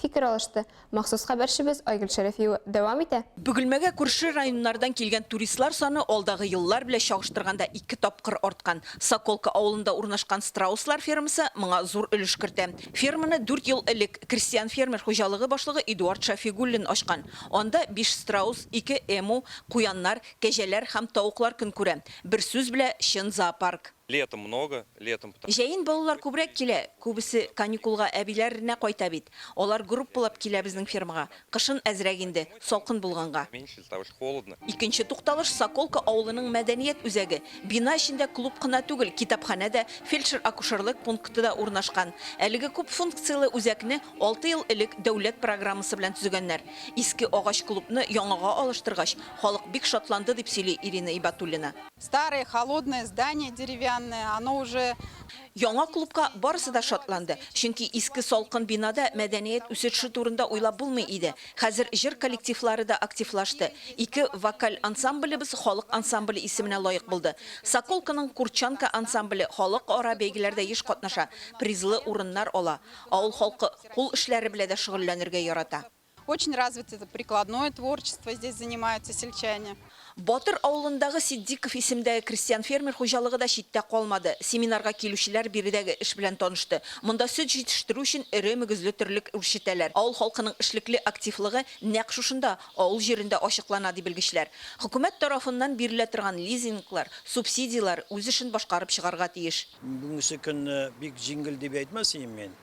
Фикер алышты. Махсус хәбәрчебез Айгөл Шәрәфиева дәвам итә. Бөгелмәгә күрше районнардан килгән туристлар саны алдагы еллар белән чагыштырганда ике тапкыр арткан. Соколка авылында урнашкан страуслар фермасы моңа зур өлеш кертә. Ферманы дүрт ел элек крестьян-фермер хуҗалыгы башлыгы Эдуард Шәфигуллин ачкан. Анда биш страус, ике эму, куяннар, кәҗәләр һәм тавыклар көн күрә. Бер сүз белә, чын зоопарк. Летом много, летом пта. Җәен балалар күбрәк килә, күбесе каникулга әбиләр ренә кайта бит. Алар группалап килә безнең фермага. Кышын әзрәк инде, салкын булганга. Меньше, из-за того что холодно. Икенче тукталыш, Соколка авылының мәдәният үзәге. Бина эчендә клуб кына түгел, китапханә дә, фельдшер-акушерлык пункты да урнашкан. Әлеге күп функцияле үзәкне алты ел элек дәүләт программасы белән төзегәннәр. Иске агач клубны яңага алыштыргач, халык бик шатланды, дип сөйли Ирина Ибатуллина. Старое холодное здание деревянное, оно уже. Яңа клубка барысы да шатланды, чөнки иске салкын бинада мәдәният үсетше турында уйлап булмый иде. Хәзер җыр коллективлары да активлашты. Ике вокаль ансамблебыз халык ансамбле исеменә лаек булды. Соколканың Курчанка ансамбле халык ара бәйгеләрдә еш катнаша, призлы урыннар ала. Авыл халкы кул эшләре белә дә шөгыльләнергә ярата. Очень развито прикладное творчество, здесь занимаются сельчане. Батыр авылындагы Ситдиков исемдәге крестьян-фермер хуҗалыгы да читтә калмады. Семинарга килүчеләр биредәге эш белән танышты. Монда сөт җитештерү өчен эре мөгезле терлек үрчетәләр. Авыл халкының эшлекле активлыгы нәкъ шушында, авыл җирендә ачыклана, ди белгечләр. Хөкүмәт тарафыннан бирелә торган лизинглар, субсидияләр үз эшен башкарып чыгарга тиеш. Бүгенге көнне бик җиңел дип әйтмәс идем мин.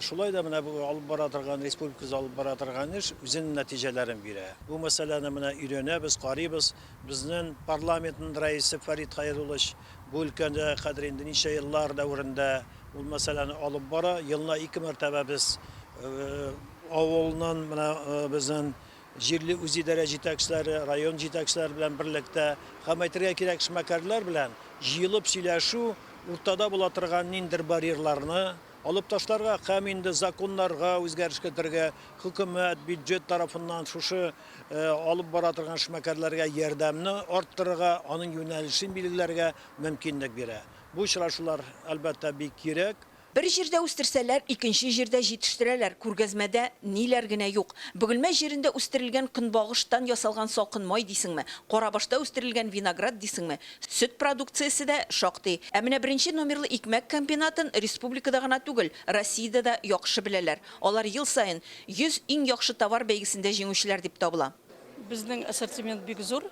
Шулай да менә бу алып бара торган, республикабызда алып бара торган эш үзенең нәтиҗәләрен бирә. Бу мәсьәләне менә өйрәнәбез, карыйбыз. Безнең парламентның рәисе Фәрит Хәйруллович бу өлкәдә хәзер инде ничә еллар дәверендә ул мәсьәләне алып бара. Елына ике мәртәбә без авылның, менә безнең Җирле үзидарә җитәкчеләре, район җитәкчеләре белән берлектә һәм, әйтергә кирәк, эшмәкәрләр белән җыелып сөйләшү, уртада була торган ниндидер барьерларны алып ташларга һәм инде законнарга үзгәреш кертергә, хөкүмәт, бюджет тарафыннан шушы алып бара торган эшмәкәрләргә ярдәмне арттырырга, аның юнәлешен билгеләргә мөмкинлек бирә. Бу очрашулар, әлбәттә, бик кирәк. Бер җирдә үстерсәләр, икенче җирдә җитештерәләр, күргәзмәдә ниләр генә юк. Бөгелмә җирендә үстерелгән көнбагыштан ясалган салкын май дисеңме, Карабашта үстерелгән виноград дисеңме, сөт продукциясе дә шактый. Ә менә беренче номерлы икмәк комбинатын республикада гына түгел, Россиядә дә яхшы беләләр. Алар ел саен 100 иң яхшы товар бәйгесендә җиңүчеләр дип табыла. Безнең ассортимент бик зур.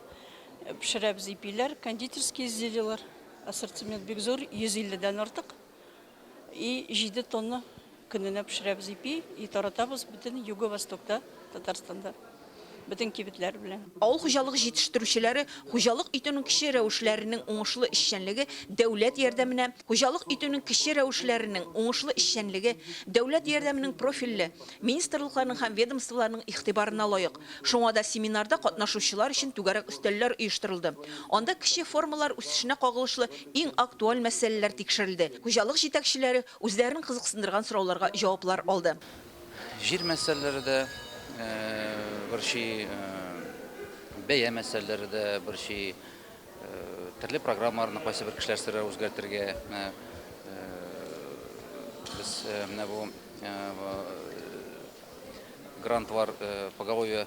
Пешерәбез ипиләр, кондитерские изделиеләр. Ассортимент бик зур, 150 дән артык. И җиде тонна көненә пешерәбез ипи, и таратабыз бөтен Юго-Востокта, Татарстанда, бөтен кибетләр белән. Авыл хуҗалыгы җитештерүчеләре хуҗалык итүнең кече рәвешләренең уңышлы эшчәнлеге дәүләт ярдәменә, хуҗалык итүнең кече рәвешләренең уңышлы эшчәнлеге дәүләт ярдәменең профильле министрлыкларның һәм ведомстволарның игътибарына лаек. Шуңа да семинарда катнашучылар өчен түгәрәк өстәлләр оештырылды. Анда кече формалар үсешенә кагылышлы Иң актуаль мәсьәләләр тикшерелде, хуҗалык җитәкчеләре үзләрен кызыксындырган сорауларга җаваплар алды. Җир мәсьәләләре дә борчый, бәя мәсьәләләре дә борчый, төрле программаларны кайсыбер кешеләр сорый үзгәртергә. Без менә бу грантлар поголовье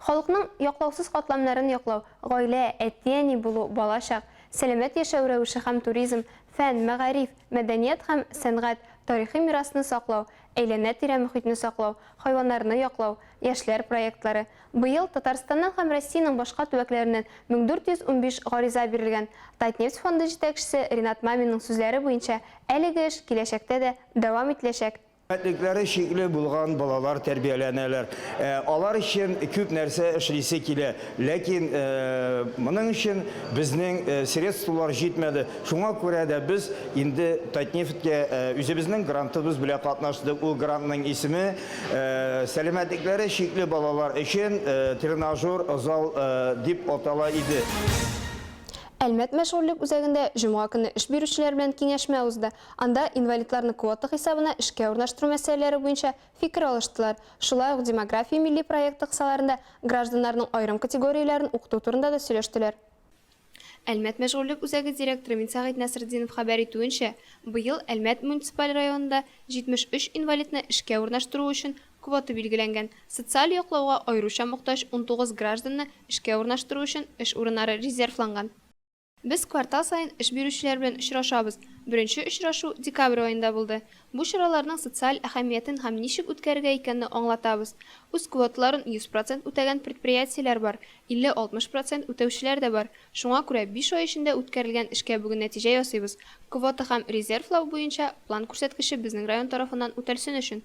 Халыкның яклаусыз катламнарын яклау, гаилә, әти-әни булу, бала-чак, сәламәт яшәү рәвеше һәм туризм, фән, мәгариф, мәдәният һәм сәнгать, тарихи мирасны саклау, әйләнә-тирә мөхитне саклау, хайваннарны яклау, яшьләр проектлары. Быел Татарстаннан һәм Россиянең башка төбәкләреннән 1415 гариза бирелгән. Татнефть фонды җитәкчесе Ринат Маминның сүзләре буенча, әлеге эш киләчәктә дә дәвам ителәчәк. Мөмкинлекләре чикле булган балалар тәрбияләнәләр. Алар өчен күп нәрсә эшлисе килә. Ләкин моның өчен безнең средстволар җитмәде. Шуңа күрә дә без инде Татнефтькә үзебезнең грантыбыз белән катнаштык. Ул грантның исеме, сәламәтлекләре чикле балалар өчен тренажер зал дип атала иде. Әлмәт мәшгульлек үзәгендә җомга көнне эш бирүчеләр белән киңәшмә узды. Анда инвалидларны квота хисабына эшкә урнаштыру мәсьәләләре буенча фикер алыштылар. Шулай ук Демография милли проекты кысаларында гражданнарның аерым категорияләрен укыту турында да сөйләштеләр. Әлмәт мәшгульлек үзәге директоры Минсәгыйть Нәсретдинов хәбәр итүенчә, быел Әлмәт муниципаль районында 73 инвалидны эшкә урнаштыру өчен квота билгеләнгән. Социаль яклауга аеруча мохтаҗ унтугыз гражданны эшкә урнаштыру өчен эш урыннары резервланган. Без квартал саен эш бирүчеләр белән очрашабыз. Беренче очрашу декабрь аенда булды. Бу чараларның социаль әһәмиятен һәм ничек үткәрергә икәнне аңлатабыз. Үз квоталарын 100 процент үтәгән предприятиеләр бар, 50-60 процент үтәүчеләр дә бар. Шуңа күрә биш ай эчендә үткәрелгән эшкә бүген нәтиҗә ясыйбыз. Квота һәм резервлау буенча план күрсәткече безнең район тарафыннан үтәлсен өчен.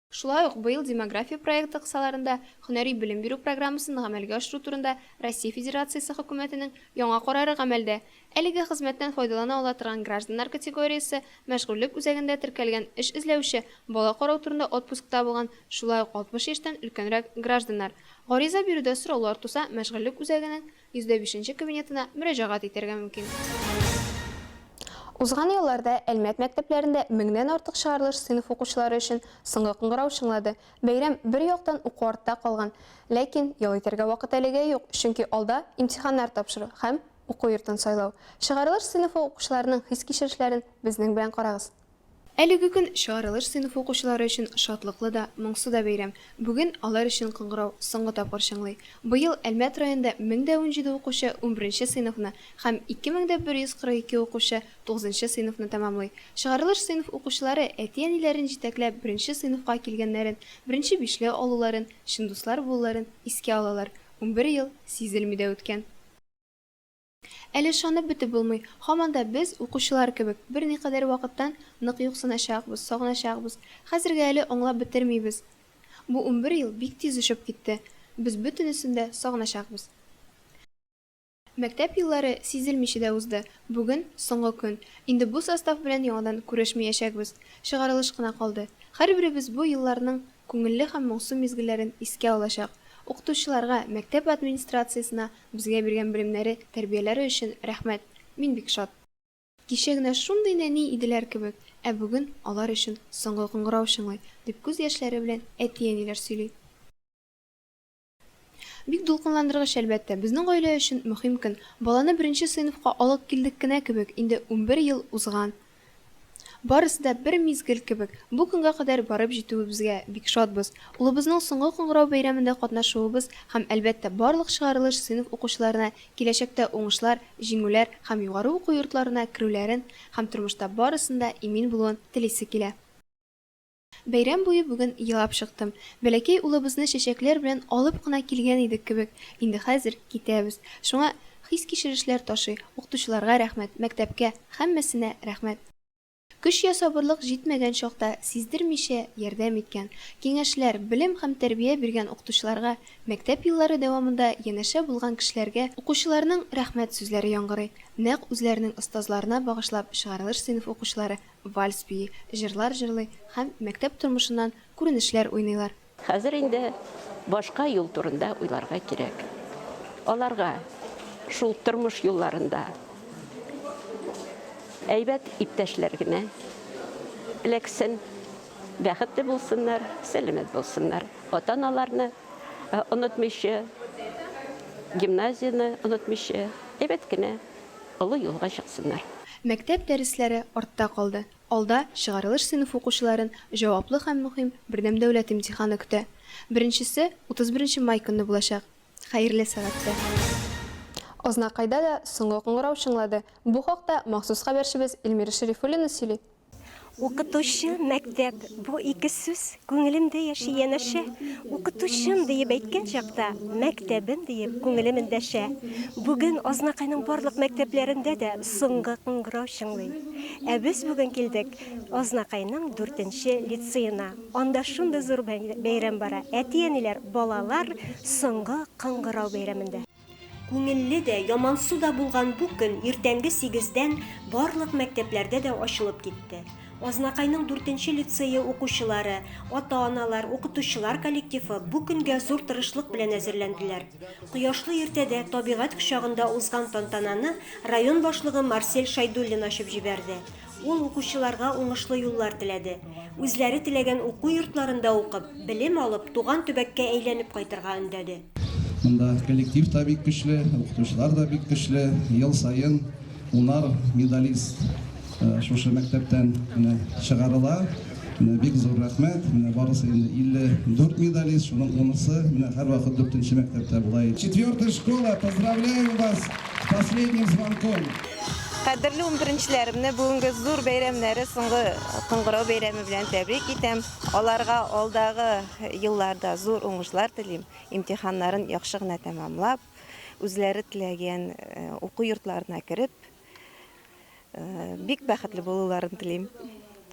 Шулай ук быел Демография проекты кысаларында һөнәри белем бирү программасын гамәлгә ашыру турында Россия Федерациясе Хөкүмәтенең яңа карары гамәлдә. Әлеге хезмәттән файдалана ала торган гражданнар категориясе, мәшгульлек үзәгендә теркәлгән эш эзләүче, бала карау турында отпускта булган, шулай ук 60 яшьтән өлкәнрәк гражданнар. Гариза бирүдә сораулар туса, мәшгульлек үзәгенең 105 кабинетына мөрәҗәгать итәргә мөмкин. Узган елларда Әлмәт мәктәпләрендә меңнән артык чыгарылыш сыйныф укучылары өчен соңгы кыңгырау чыңлады. Бәйрәм бер яктан уку артта калган, ләкин ял итәргә вакыт әлегә юк, чөнки алда имтиханнар тапшыру һәм уку йортын сайлау. Чыгарылыш сыйныфы укучыларының хис-кичерешләрен безнең белән карагыз. Әлеге көн чыгарылыш сыйныфы укучылары өчен шатлыклы да, моңсу да бәйрәм. Бүген алар өчен кыңгырау соңгы тапкыр чыңлый. Быел Әлмәт районында 1017 укучы унберенче сыйныфны һәм 2142 укучы тугызынчы сыйныфны тәмамлый. Чыгарылыш сыйныф укучылары әти-әниләрен җитәкләп беренче сыйныфка килгәннәрен, беренче бишле алуларын, чын дуслар булуларын искә алалар. Унбер ел сизелми дә үткән. Әле ышанып бетеп булмый, һаман да без, укучылар кебек, берникадәр вакыттан нык юксыначакбыз, сагыначакбыз. Хәзергә әле аңлап бетермибез. Бу унбер ел бик тиз очып китте. Без бөтенесен дә сагыначакбыз. Мәктәп еллары сизелмичә дә узды. Бүген, соңгы көн. Инде бу состав белән яңадан күрешмәячәкбез. Чыгарылыш кына калды. Һәрберебез бу елларның күңелле һәм моңсу мизгелләрен искә алачак. Укытучыларга, мәктәп администрациясенә Безгә биргән белемнәре, тәрбияләре өчен рәхмәт, мин бик шат. Кичә генә шундый нәни иделәр кебек, ә бүген алар өчен соңгы кыңгырау чыңлый, дип күз яшьләре белән әти-әниләр сөйли. Бик дулкынландыргыч, әлбәттә. Безнең гаилә өчен мөһим көн. Баланы беренче сыйныфка алып килдек кенә кебек, инде унбер ел узган. Барысы да бер мизгел кебек. Бу көнгә кадәр барып җитүебезгә бик шатбыз. Улыбызның соңгы кыңгырау бәйрәмендә катнашуыбыз һәм, әлбәттә, барлык чыгарылыш сыйныф укучыларына киләчәктә уңышлар, җиңүләр һәм югары уку йортларына керүләрен һәм тормышта барысын да имин булуын телисе килә. Бәйрәм буе бүген елап чыктым. Бәләкәй улыбызны чәчәкләр белән алып кына килгән идек кебек, инде хәзер китәбез. Шуңа хис-кичерешләр ташый. Укытучыларга рәхмәт, мәктәпкә, һәммәсенә рәхмәт. Көч я сабырлык җитмәгән чакта сиздермичә ярдәм иткән, киңәшләр, белем һәм тәрбия биргән укытучыларга, мәктәп еллары дәвамында янәшә булган кешеләргә, укучыларның рәхмәт сүзләре яңгырый. Нәкъ үзләренең остазларына багышлап чыгарылыш сыйныф укучылары вальс бии, җырлар җырлый һәм мәктәп тормышыннан күренешләр уйныйлар. Хәзер инде башка юл турында уйларга кирәк. Аларга шул тормыш юлларында әйбәт иптәшләр генә эләксен, бәхетле булсыннар, сәламәт булсыннар. Ата-аналарны онытмыйча, гимназияне онытмыйча, әйбәт кенә Олы юлга чыксыннар. Мәктәп дәресләре артта калды. Алда, чыгарылыш сыйныф укучыларын җаваплы һәм мөһим бердәм дәүләт имтиханы көтә. Беренчесе, 31 май көнне булачак. Хәерле сәгатьтә. Азнакайда да соңгы кыңгырау чыңлады. Бу хакта махсус хәбәрчебез Эльмира Шәрифуллина сөйли. Укытучы, мәктәп, бу ике сүз күңелемдә яши янәшә. Укытучым диеп әйткән чакта, мәктәбем диеп күңелем эндәшә. Бүген Азнакайның барлык мәктәпләрендә дә соңгы кыңгырау чыңлый. Ә без бүген килдек Азнакайның дүртенче лицеена. Анда шундый зур бәйрәм бара, әти-әниләр балалар соңгы кыңгырау бәйрәмендә. Күңелле дә, ямансу да булган бу көн иртәнге сигездән барлык мәктәпләрдә дә ачылып китте. Азнакайның дүртенче лицее укучылары, ата-аналар, укытучылар коллективы бу көнгә зур тырышлык белән әзерләнделәр. Кояшлы иртәдә табигать кочагында узган тантананы район башлыгы Марсель Шәйдуллин ачып җибәрде. Ул укучыларга уңышлы юллар теләде. Үзләре теләгән уку йортларында укып, белем алып, туган төбәккә әйләнеп кайтырга өндәде. Монда коллектив та бик көчле, укытучылар да бик көчле. Ел саен унар медалист шушы мәктәптән менә чыгарыла. Менә бик зур рәхмәт. Менә барысы инде 54 медалист, шуның унысы менә һәрвакыт дүртенче мәктәптә була иде. Четвертая школа, поздравляем вас с последним звонком! Кадерле унберенчеләремне бүгенге зур бәйрәмнәре соңгы кыңгырау бәйрәме белән тәбрик итәм. Аларга алдагы елларда зур уңышлар телим. Имтиханнарын яхшы гына тәмамлап, үзләре теләгән уку йортларына кереп, бик бәхетле булуларын телим.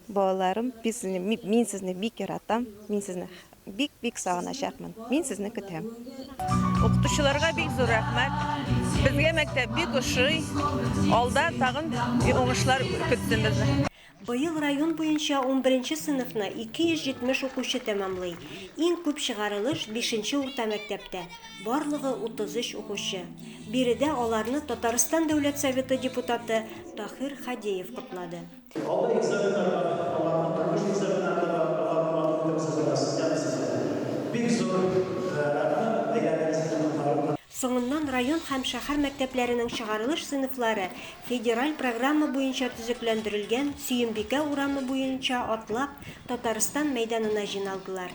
Балаларым, мин сезне бик яратам. Мин сезне Бик бик сагыначакмын. Мин сезне көтәм. Укытучыларга бик зур рәхмәт. Безгә мәктәп бик ошый. Алда тагын уңышлар көтсен безне. Быел район буенча унберенче сыйныфны 270 укучы тәмамлый. Иң күп чыгарылыш бишенче урта мәктәптә, барлыгы 33 укучы. Биредә аларны Татарстан Дәүләт Советы депутаты Таһир Хадеев котлады. Алда экзаменнар бар, аларны тормыш экзаменнарына да аларны матур итеп хозырлана система сезгә. Бик зур рәхмәт, әйләнегез һәм коткарып. Соңыннан район һәм шәһәр мәктәпләренең чыгарылыш сыйныфлары федераль программа буенча төзекләндерелгән Сөембикә урамы буенча атлап Татарстан мәйданына җыйналдылар.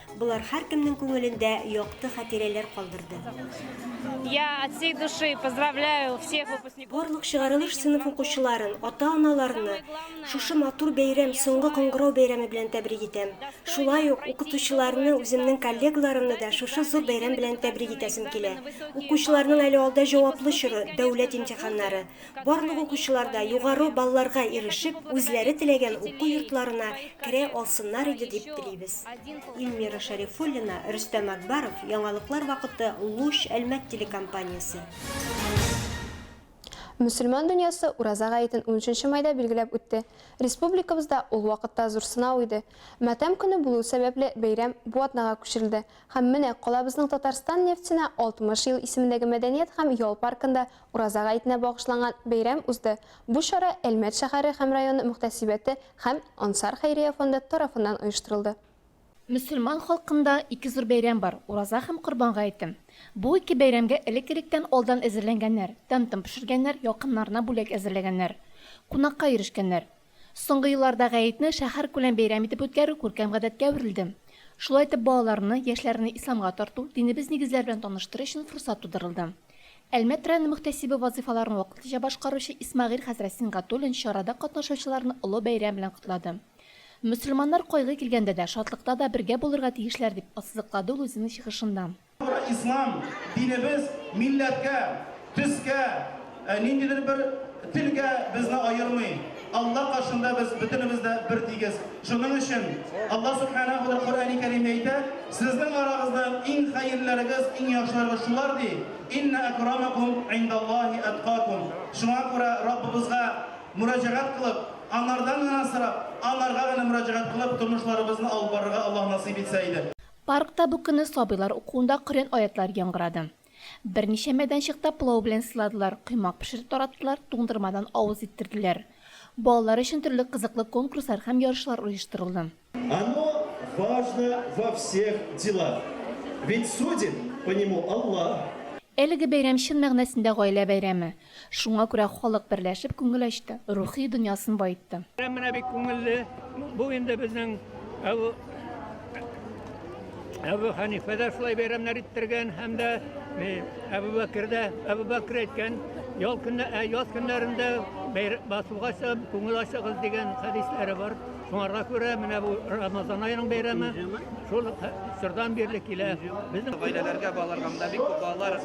Болар һәркемнең күңелендә якты хатирәләр калдырды. Я от всей души поздравляю всех выпускников. Барлык чыгарылыш сыйныф укучыларын, ата-аналарны шушы матур бәйрәм, Соңгы кыңгырау бәйрәме белән тәбрик итәм. Шулай ук укытучыларны, үземнең коллегаларымны да шушы зур бәйрәм белән тәбрик итәсем килә. Укучыларның әле алда җаваплы чоры, дәүләт имтиханнары. Барлык укучылар да югары балларга ирешеп, үзләре теләгән уку йортларына керә алсыннар иде дип телибез. Ильмира Шәрифуллина, Рөстәм Әкбаров, Яңалыклар вакыты, Луч, Әлмәт телекомпаниясе. Мөселман дөньясы Ураза гаетен унөченче майда билгеләп үтте. Республикабызда ул вакытта зур сынау иде. Матәм көне булуы сәбәпле, бәйрәм бу атнага күчерелде. Һәм менә калабызның Татарстан нефтенә 60 ел исемендәге мәдәният һәм ял паркында Ураза гаетенә багышланган бәйрәм узды. Бу чара Әлмәт шәһәре һәм районы мөхтәсибәте һәм Ансар хәйрия фонды тарафыннан оештырылды. Мөселман халкында ике зур бәйрәм бар, Ураза һәм Корбан гаете. Бу ике бәйрәмгә элек-электән алдан әзерләнгәннәр, тәм-том пешергәннәр, якыннарына бүләк әзерләгәннәр, кунакка йөрешкәннәр. Соңгы елларда Гәетне шәһәркүләм бәйрәм итеп үткәрү күркәм гадәткә әверелде. Шулай итеп, балаларны, яшьләрне исламга тарту, динебез нигезләре белән таныштыру өчен форсат тудырылды. Әлмәт районы мөхтәсибе вазыйфаларын вакытлыча башкаручы Исмәгыйль хәзрәт Сингатуллин чарада катнашучыларны олы бәйрәм белән котлады. Мөселманнар кайгы килгәндә дә, шатлыкта да бергә булырга тиешләр, дип ассызыклады ул үзенең чыгышында. Бу ислам динебез милләткә, төскә, ниндидер бер телгә безне аермый. Алла каршында без бөтенебез дә бертигез. Шуның өчен Алла Сүбхәнәһү дә Коръәни Кәримдә әйтә, Сезнең арагызда иң хәерлеләрегез, иң яхшыларыгыз шулар, ди, Иннә әкрамәкүм индәллаһи әткакүм. Шуңа күрә Раббыбызга мөрәҗәгать кылып, Аңардан гына сорап, Аңарга гына мөрәҗәгать кылып тормышларыбызны алып барырга Аллаһ насыйп итсә иде. Паркта бу көнне сабыйлар укуында Коръән аятлары яңгырады. Берничә мәйданчыкта пылау белән сыйладылар, коймак пешереп тараттылар, туңдырмадан авыз иттерделәр. Балалар өчен төрле кызыклы конкурслар һәм ярышлар оештырылды. Оно важно во всех делах, ведь судит по нему Аллаһ. Әлеге бәйрәм чын мәгънәсендә гаилә бәйрәме. Шуңа күрә халык берләшеп күңел ачты, рухи дөньясын баетты. Бәйрәм менә бик күңелле. Бу инде безнең Әбү Әбү Хәнифә дә шулай бәйрәмнәр иттергән һәм дә Әбү Бәкер дә, Әбү Бәкер әйткән, ял көннә, яз көннәрендә басуга чыгып, күңел ачыгыз дигән хәдисләре бар. Шуңарга күрә менә бу Рамазан аеның бәйрәме шул чордан бирле килә. Безнең гаиләләргә балаларга монда бик күп балалар,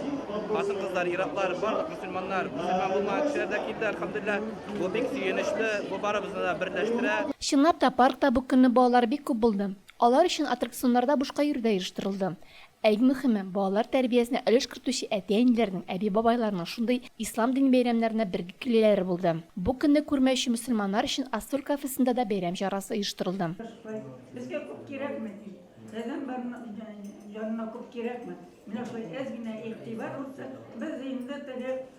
хатын-кызлар, ир-атлар, барлык мөселманнар, мөселман булмаган кешеләр дә килде, альхамдулиллаһ. Бу бик сөенечле, бу барыбызны да берләштерә. Чынлап та, паркта бу көнне балалар бик күп булды. Алар өчен аттракционнар да бушка йөрүдә оештырылды. Ә иң мөхиме, балалар тәрбиясенә өлеш кертүче әти-әниләрнең, әби-бабайларның шундый Ислам дини бәйрәмнәренә бергә килүләре булды. Бу көнне күрмәүче мөселманнар өчен Астор кафесында да бәйрәм чарасы оештырылды. Безгә күп кирәкми, пәйгамбәр янына күп кирәкми. Менә шулай әз генә игътибар булса, без инде теге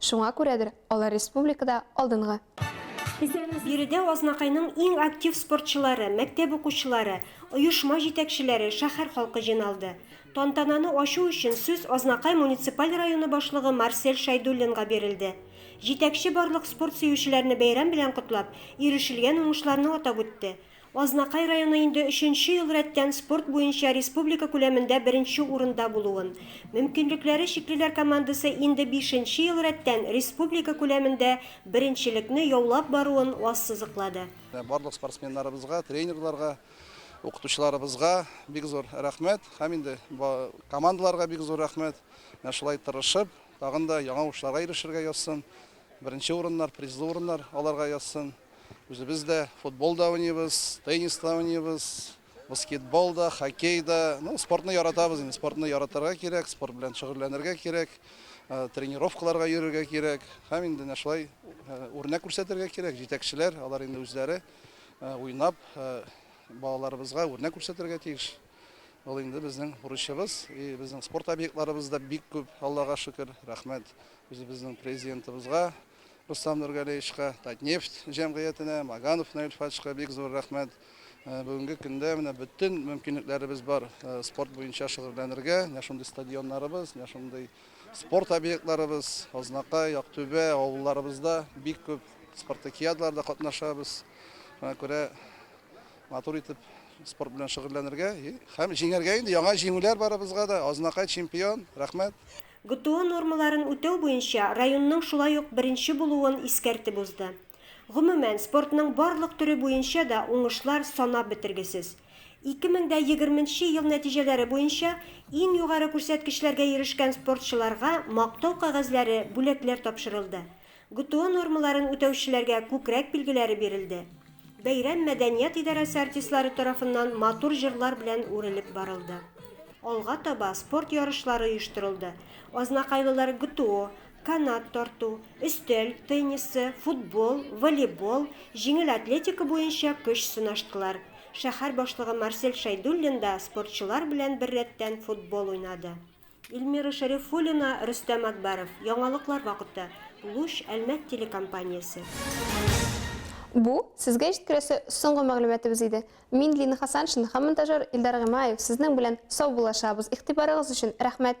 Шуңа күрәдер, алар республикада алдынгы. Биредә Азнакайның иң актив спортчылары, мәктәп укучылары, оешма җитәкчеләре, шәһәр халкы җыйналды. Тантананы ачу өчен сүз Азнакай муниципаль районы башлыгы Марсель Шәйдуллинга бирелде. Җитәкче барлык спорт сөючеләрне бәйрәм белән котлап, ирешелгән уңышларны атап үтте. Азнакай районы инде өченче ел рәттән спорт буенча республика күләмендә беренче урында булуын, мөмкинлекләре чиклеләр командасы инде бишенче ел рәттән республика күләмендә беренчелекне яулап баруын ассызыклады. Барлык спортсменнарыбызга, тренерларга, укытучыларыбызга бик зур рәхмәт һәм инде командаларга бик зур рәхмәт, менә шулай тырышып, тагын да яңа уңышларга ирешергә язсын. Беренче урыннар, призлы урыннар аларга язсын. Үзебез дә футбол да уйныйбыз, теннис та уйныйбыз, баскетбол да, хоккей да. Ну, спортны яратабыз инде, спортны яратырга кирәк, спорт белән шөгыльләнергә кирәк, э, тренировкаларга йөрергә кирәк. Һәм инде менә шулай э, үрнәк күрсәтергә кирәк. Җитәкчеләр, алар инде үзләре э, уйнап, балаларыбызга үрнәк күрсәтергә тиеш. Ул инде безнең бурычыбыз. И безнең спорт объектларыбыз да бик күп, Аллага шөкер. Рәхмәт үзебезнең президентыбызга Рустам Нургалеевичка, Татнефть җәмгыятенә, Маганов Наил Фатишка бик зур рәхмәт. Э, бүгенге көндә менә бөтен мөмкинлекләребез бар э, спорт буенча шөгыльләнергә. Менә шундый стадионнарыбыз, менә шундый спорт объектларыбыз, Азнакай, Актүбә авылларыбызда бик күп спартакиадларда катнашабыз. Шуңа күрә Матур итеп спорт белән шөгыльләнергә һәм җиңәргә инде. Яңа җиңүләр барыбызга да. Азнакай чемпион. Рәхмәт. ГТО нормаларын үтәү буенча районның шулай ук беренче булуын искәртеп узды. Гомумән, спортның барлык төре буенча да уңышлар санап бетергесез. Ике мең дә егерменче ел нәтиҗәләре буенча иң югары күрсәткечләргә ирешкән спортчыларга мактау кәгазьләре, бүләкләр тапшырылды. ГТО нормаларын үтәүчеләргә күкрәк билгеләре бирелде. Бәйрәм мәдәният идарәсе артистлары тарафыннан матур җырлар белән үрелеп барылды. Алга таба спорт ярышлары оештырылды, азнакайлылар ГТО, канат тарту, өстәл теннисы, футбол, волейбол, җиңел атлетика буенча көч сынаштылар. Шәһәр башлыгы Марсель Шәйдуллин да спортчылар белән беррәттән футбол уйнады. Эльмира Шәрифуллина, Рөстәм Әкбәров. Яңалыклар вакыты. Луч Әлмәт телекомпаниясе. Бу, сезгә җиткерәсе соңгы мәгълүматыбыз иде. Мин Лина Хасаншин һәм монтажер Илдар Гыймаев сезнең белән сау булашабыз. Игътибарыгыз өчен рәхмәт!